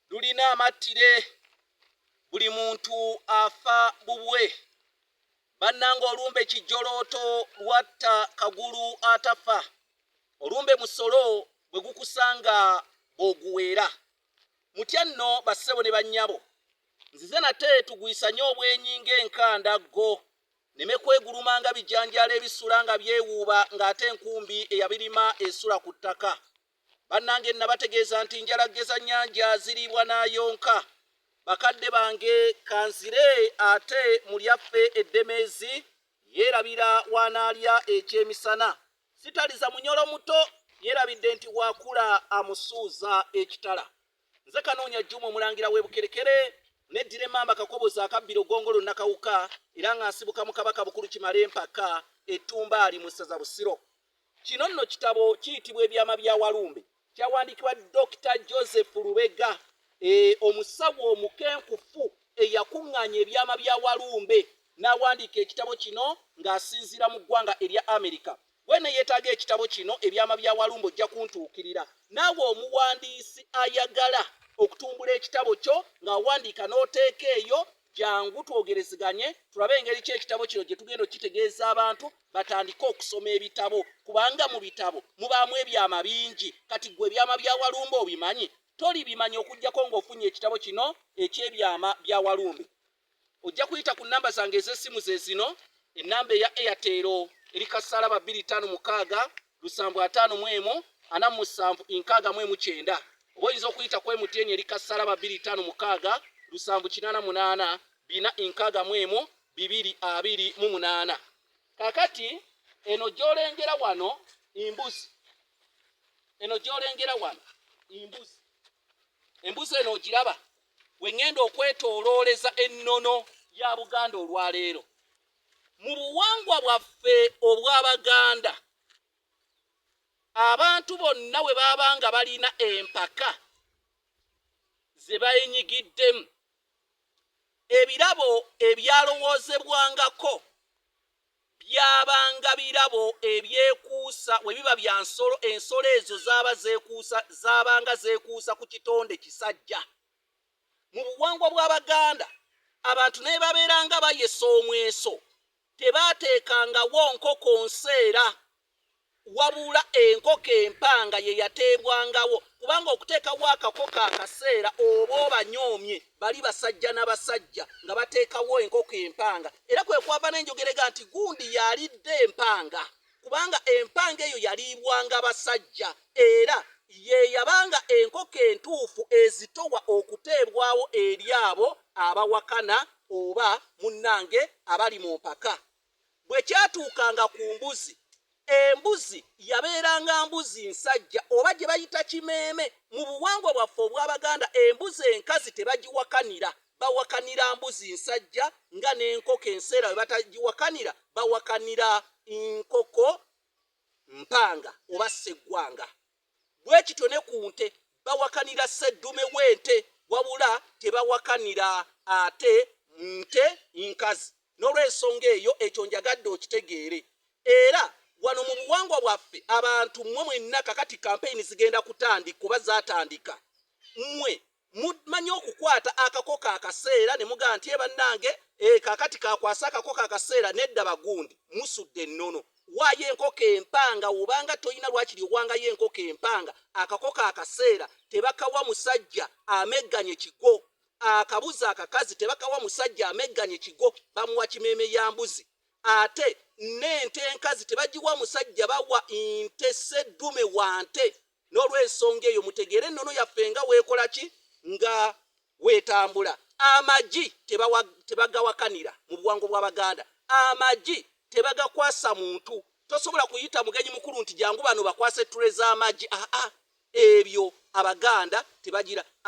lulina amattire buli muntu afa bubwe bannanga olumbe kijjolooto lwatta kagulu atafa olumbe musolo bwe gukusanga bw'oguweera mutya nno bassebo ne bannyabo nzize nate tugwisanye obwenyi ng'enkanda ggo neme kwegulumanga bijanjaalo ebisula nga byewuuba ng'ate enkumbi eyabirima esula ku ttaka Bannange nnabategeeza nti njala ggeza nnyanja ziriibwa n'ayonka. Bakadde bange kanzire ate mu lyaffe eddemeezi yeerabira w'anaalya ekyemisana. Sitaliza munyolo muto yeerabidde nti bw'akula amusuuza ekitala. Nze Kanoonya Jjuma Omulangira w'e Bukerekere neddira emmamba Kakoboza akabbiro Ggongolo Nakawuka era nga nsibuka mu Kabaka Bukulu Kimalempaka e Ttumbaali mu ssaza Busiro. Kino nno kitabo kiyitibwa Ebyama bya Walumbe. Kyawandiikibwa Dokita Joseph Lubega, e, omusawo omukenkufu eyakuŋŋaanya ebyama bya Walumbe n'awandiika ekitabo kino ng'asinziira mu ggwanga erya Amerika. Bw'eneeyetaaga ekitabo kino Ebyama bya Walumbe ojja kuntuukirira. Naawe omuwandiisi ayagala okutumbula ekitabo kyo ng'awandiika n'oteeka eyo jangu twogerezeganye tulabe engeri ki ekitabo kino gye tugenda okukitegeeza abantu batandike okusoma ebitabo kubanga mu bitabo mubaamu ebyama bingi kati gwe ebyama bya walumbe obimanyi tolibimanya okugyako ng'ofunye ekitabo kino eky'ebyama bya walumbe ojja kuyita ku nnamba zange ez'essimu ze zino ennamba eya airtel eri kasalaba 256 lusanvu ataano mu emu ana mu musanvu nkaaga mu emu kyenda oba oyinza okuyita ku emutn eri kasalaba bbiri taano mukaaga lusanvu kinaana munaana bina nkaaga mu emu bibiri abiri mu munaana kakati eno gyolengera wano embuzi eno gyolengera wano embuzi embuzi eno ogiraba wengenda okwetolooleza ennono ya buganda olwaleero Mu buwangwa bwaffe obw'Abaganda, abantu bonna bwe baba nga balina empaka ze bayenyigiddemu, ebirabo ebyalowoozebwangako byabanga birabo ebyekuusa we biba bya nsolo, ensolo ezo zaabanga zeekuusa ku kitonde kisajja. mu buwangwa bw'Abaganda abantu naye babeeranga bayesa omweso tebaateekangawo nkoko nseera wabula enkoko empanga ye yateebwangawo kubanga okuteekawo akakoko akaseera oba obanyoomye bali basajja na basajja nga bateekawo enkoko empanga era kwe kwava n'enjogerega nti gundi yalidde empanga kubanga empanga eyo yaliibwanga basajja era ye yabanga enkoko entuufu ezitowa okuteebwawo eri abo abawakana oba munnange abali mu mpaka. Bwe kyatuukanga ku mbuzi, embuzi yabeeranga mbuzi nsajja oba gye bayita kimeeme. Mu buwangwa bwaffe obw'Abaganda embuzi enkazi tebagiwakanira bawakanira mbuzi nsajja nga n'enkoko enseera we batagiwakanira bawakanira nkoko mpanga oba sseggwanga bwe kityo ne ku nte bawakanira sseddume w'ente wabula tebawakanira ate nte nkazi n'olw'ensonga eyo ekyo njagadde okitegeere era wano mu buwangwa bwaffe abantu mmwe mwenna kakati kampeyini zigenda kutandika oba zaatandika mmwe Mumanyi okukwata akako ka kaseera ne mugamba nti, ee bannange, ee kaakati kaakwasa akako ka kaseera. Nedda bagundi, musudde ennono. Waayo enkoko empanga woba nga tolina lwakiri owangayo enkoko empanga. Akako ka kaseera tebakawa musajja amegganye kigo. Akabuzi akakazi tebakawa musajja amegganye kigo, bamuwa kimeeme ya mbuzi. Ate n'ente enkazi tebagiwa musajja, bawa nte sseddume wa nte. N'olw'ensonga eyo, mutegeere ennono yaffe nga weekola ki? Nga weetambula. Amagi tebawa, tebagawakanira mu buwangwa bw'Abaganda. Amagi tebagakwasa muntu. Tosobola kuyita mugenyi mukulu nti jangu bano bakwase tray z'amagi. Aa, ebyo Abaganda tebagira.